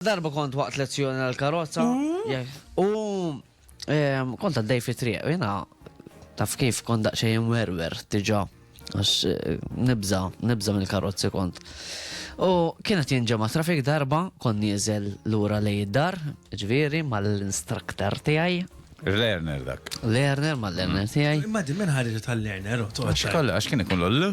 Darba kont waqt lezzjoni għal karozza mm. u kont għaddej fi triq, jena taf kif kont daqxejn werwer tiġa għax eh, nibza, nibza mill karozzi kont. U kienet jinġema trafik darba, kon nieżel l-ura li jiddar, ġviri, mal-instruktor tijaj. Lerner dak. Lerner, mal-lerner mm. tijaj. Imma di minn ħarġet tal-lerner, u Għax kien ikun l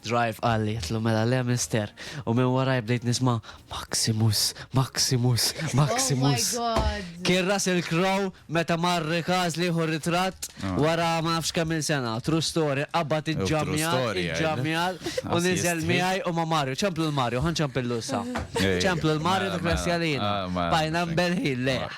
Drive qal li jitlu mela le Mister u minn waraj bdejt nisma' Maximus, Maximus, Maximus. Oh my God! Kien Russell Crowe meta mar Rikaz li jieħu ritratt wara ma nafx kemm il sena. True story, qabad iġġamjal, iġġamjal u niżel miegħi u ma' Mario. Ċemplu l-Mario, ħa nċempillu issa. Ċemplu l-Mario dak li ħassja lina. Bqajna mberħin lejh.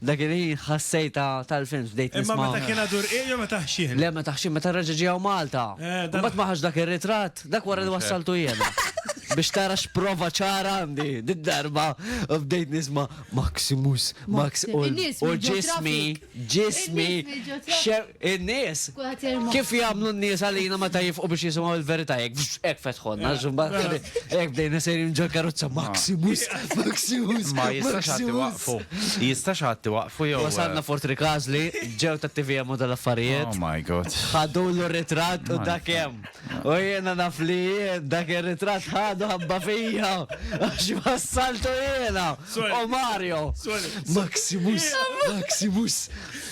Dak il-ħin ħassejtha tal-films bdejt nisma'. Imma meta kien għadu rqiq jew meta ħxien? Le meta ħxien meta reġa' ġie hawn Malta. Imbagħad ma ħax dak ir-ritratt, dak wara li wassaltu jiena. Biex tara x'prova ċara għandi did-darba bdejt nisma' Maximus, Max u ġismi, ġismi, In-nies? Kif jagħmlu n-nies għalina meta jifqu biex jisimgħu l-verità? Hekk, fxx, hekk fetħulna, għax imbagħad kien hi- hekk bdejna sejrin ġol-karozza, Maximus, Maximus, Ma jistax ħadd iwaqqfu. Maximus. Jistax ħadd iwaqqfu jew. Wasalna Fort Rikażli, ġew tat-TVM u tal-affarijiet. Oh my God. Ħadulu r-ritratt u dak hemm. U jiena naf li jien dak ir-ritratt ħadu ħabba fija għax wassaltu jiena u Mario. Maximus, Maximus.